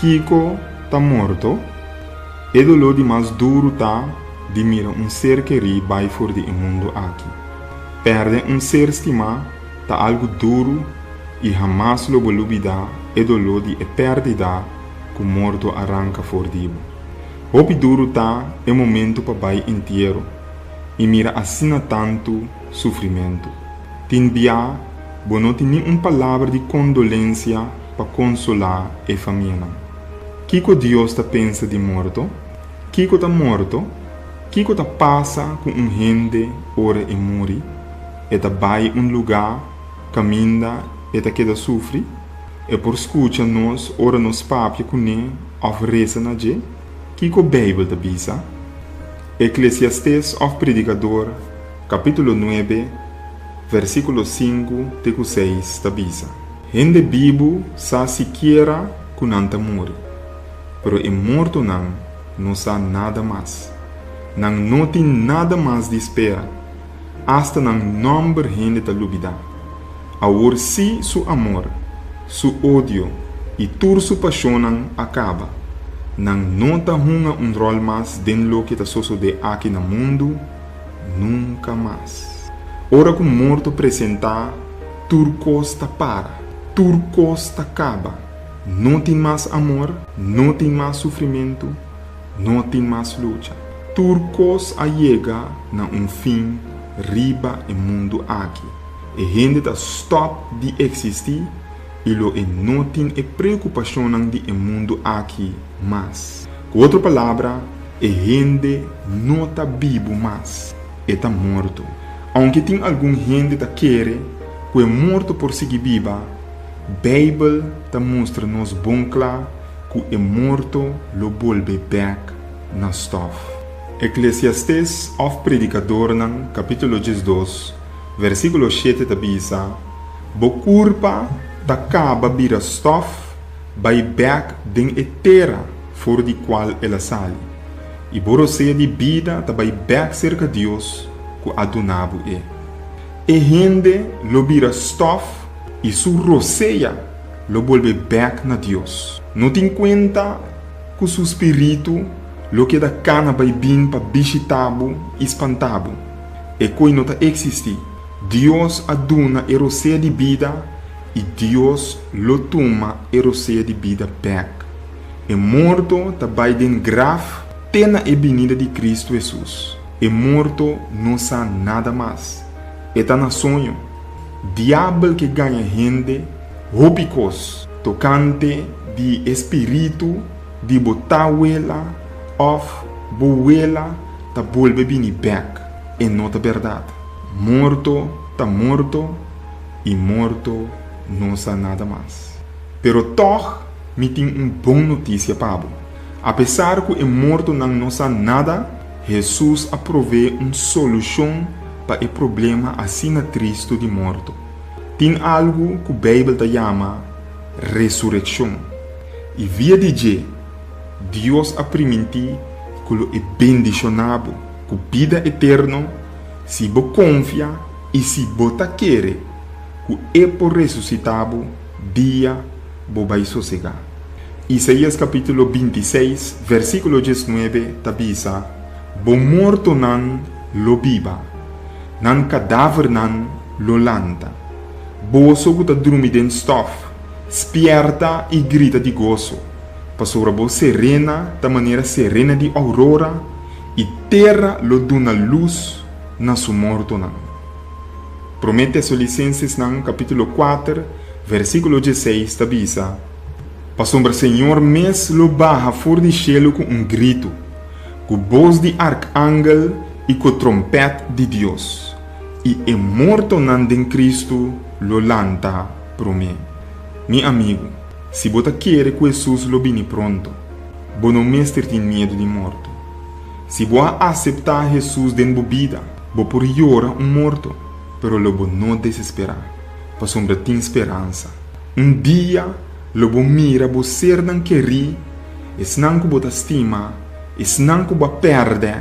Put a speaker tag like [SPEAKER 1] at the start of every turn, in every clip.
[SPEAKER 1] Kiko ta morto, e doló di mas duru ta di mira un ser kerí bai for di e mundu aki. Pèrdè un ser stimá. Ta algu duru i hamas lo bo lubidá e doló di e pèrdida ku morto a ranka for di bo. Hopi duru ta e momentu pa bai entiero i mira asina tantu sufrimentu. Tin bia bo no tin ni un palabra di kondolensia pa konsolá e famianan. Kiko Dios ta pensa di morto? Kiko ta morto? Kiko ta pasa ku un hende ora e muri? e ta bai un lugá kaminda e ta keda sufri, e por skucha nos ora nos papia kuné òf resa na dje. Kiko Beibel ta bisa? Eklesiastés òf Predikador, kapítulo nuebe, vèrsikulo sinku te ku seis, ta bisa, Hende bibu sa sikiera ku nan ta muri, pero e mortonan no sa nada mas. Nan no tin nada mas di spera. Asta nan nòmber hende ta lubidá. Awor sí su amor, su odio i tur su pashonnan a kaba. Nan no ta hunga un ròl mas den loke ta sosodé aki na mundu nunka mas. Ora ku morto presentá, tur kos ta para. Tur kos ta kaba. No tin mas amor, no tin mas sufrimentu. No tin mas lucha. Tur kos a yega na un fin riba e mundu aki. E hende ta stòp di eksistí i lo e no tin e preokupashonnan di e mundu aki mas. Ku otro palabra, e hende no ta bibu mas, e ta morto. Ounke tin algun hende ta kere ku e morto por sigui biba, Beibel ta mustra nos bon kla ku e morto lo bolbe bèk na stòf. Eklesiastés òf Predikadornan kapítulo diesdos, versíkulo shete ta bisa, Bo kurpa ta kaba bira stòf bai bèk den e tera for di kual el a sali, i bo rosea di bida ta bai bèk serka Dios ku a duna bo e. E hende lo bira stòf i su rosea lo bolbe bek na Dios. No tin cuenta cu su spiritu lo keda cana bay bin pa bishita bo y spanta bo. E coy no ta existi. Dios a duna e rosea di bida y Dios lo tuma e rosea di bida bek. E morto ta bay den graf te na e binida di Cristo Hesus. E morto no sa nada mas. E ta na soño. Diabel ke gaña hende hopi kos tokante di e spiritu di bo tawela òf bo wela ta bolbe bini bèk. E no ta bèrdat. Morto ta morto i morto no sa nada mas. Pero tòg mi tin un bon notisia pa bo. Apesar ku e mortonan no sa nada, Hesus a prové un solushon pa e problema asina tristu di morto. Tin algu ku Beibel ta yama resurekshon, i via di dje Dios a primintí ku lo e bendishoná bo ku bida eterno si bo konfia i si bo ta kere ku e por resusitá bo. dia bo bai sosegá. Isaías kapítulo binti i seis, vèrsikulo dies nuebe ta bisa, Bo mortonan lo biba, nan kadávernan lo lanta. Boso ku ta drumi den stòf, spièrta i grita di goso, pasobra bo serena ta manera serena di ourora, i tera lo duna lus na su mortonan. Promé Tesalonisensenan kapítulo kuater vèrsikulo dieseis ta bisa, Pasobra Señor mes lo baha for di shelu ku un gritu, ku bos di arkangel i ku trompèt di Dios, i e mortonan den Kristu lo lanta promé. Mi amigu, si bo ta kere ku Hesus lo bini pronto, bo no mester tin miedu di morto. Si bo a aseptá Hesus den bo bida, bo por yora un morto, pero lo bo no desesperá, pasobra tin speransa. Un dia lo bo mira bo sernan kerí, esnan ku bo ta stima, esnan ku bo a pèrdè,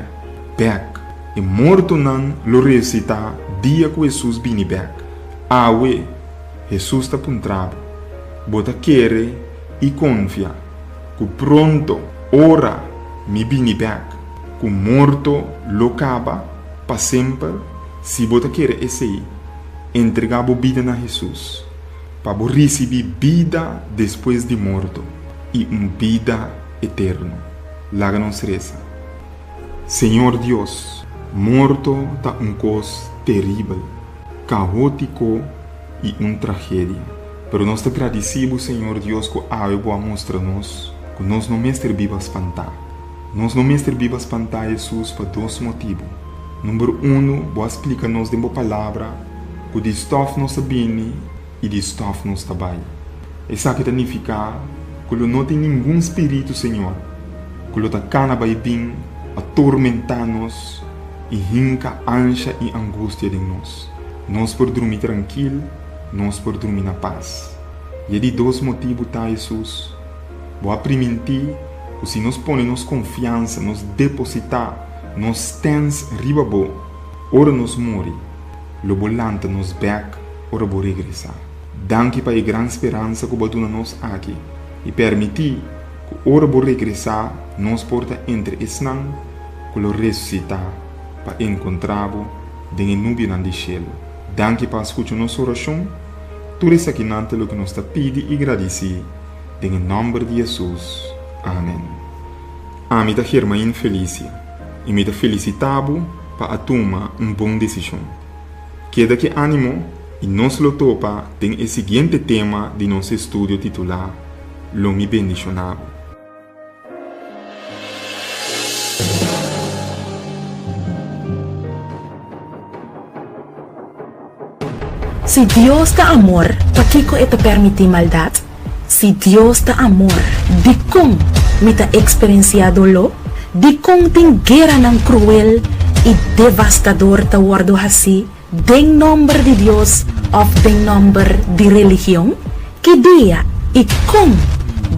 [SPEAKER 1] bèk. E mortonan lo resusitá dia ku Hesus bini bèk. Awe, Hesus ta puntra bo, Bo ta kere i konfia? Ku pronto, ora Mi bini bèk, ku morto lo kaba pa semper, si bo ta kere esei, entregá bo bida na Hesus, pa bo risibí bida despues di morto i un bida eterno. Laga nos resa. Señor Dios, morto ta un kos teribel, kaótiko, i un tragedia. Pero nos ta gradisí bo, Señor Dios, ku awe bo a mustra nos ku nos no mester biba spantá. Nos no mester biba spantá, Hesus, pa dos motibu. Number unu, bo a splika nos den bo Palabra ku di stòf nos ta bini i di stòf nos ta bai. Esaki ta nifiká ku lo no tin ningun spiritu, Señor, ku lo ta kana bai bin atormentá nos i hinka ansha i angustia den nos. Nos por drumi trankil, nos por drumi na pas. I e di dos motibu ta Hesus bo a primintí ku si nos pone nos konfiansa, nos depositá nos stens riba bo ora nos muri, lo bo lanta nos bèk ora bo regresá. Danki pa e gran speransa ku bo a duna nos aki i permití ku ora bo regresá nos por ta entre esnan ku lo resusitá. pa encontra bo den e nubienan di cielo. Danki pa a scucha nos oracion. Tur esakinan ta loke nos ta pidi y gradici den e nomber di Jesus. Amen. Ami ta Germain Felicia y mi ta felicita bo pa a tuma un bon decision. Keda cu animo y nos lo topa den e siguiente tema di nos estudio titula Lo mi bendiciona bo.
[SPEAKER 2] Si Dios ta amor, pakiko e ta permití maldat? Si Dios ta amor, dikon mi ta eksperensiá doló? Dikon tin gueranan kruel i devastador ta wòrdu hasí? Den nòmber di Dios òf den nòmber di religion? Ki dia i kon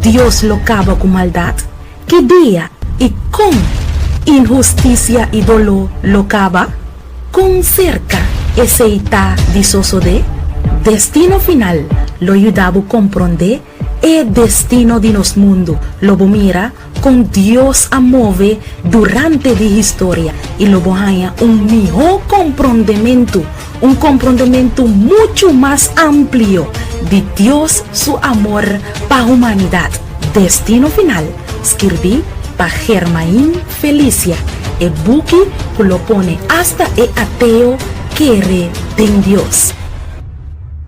[SPEAKER 2] Dios lo kaba ku maldat? Ki dia i kon inhustisia i doló lo kaba? Kon serka esei ta di sosodé? Destino final lo yuda bo komprondé E destino di nos mundu lo bo mira kon Dios a move durante di historia i lo bo haña un mihó komprondementu, un komprondementu muchu mas amplio di Dios su amor pa humanidat. Destino Final, skirbí pa Germain Felicia, e buki ku lo pone asta e ateo kere den Dios.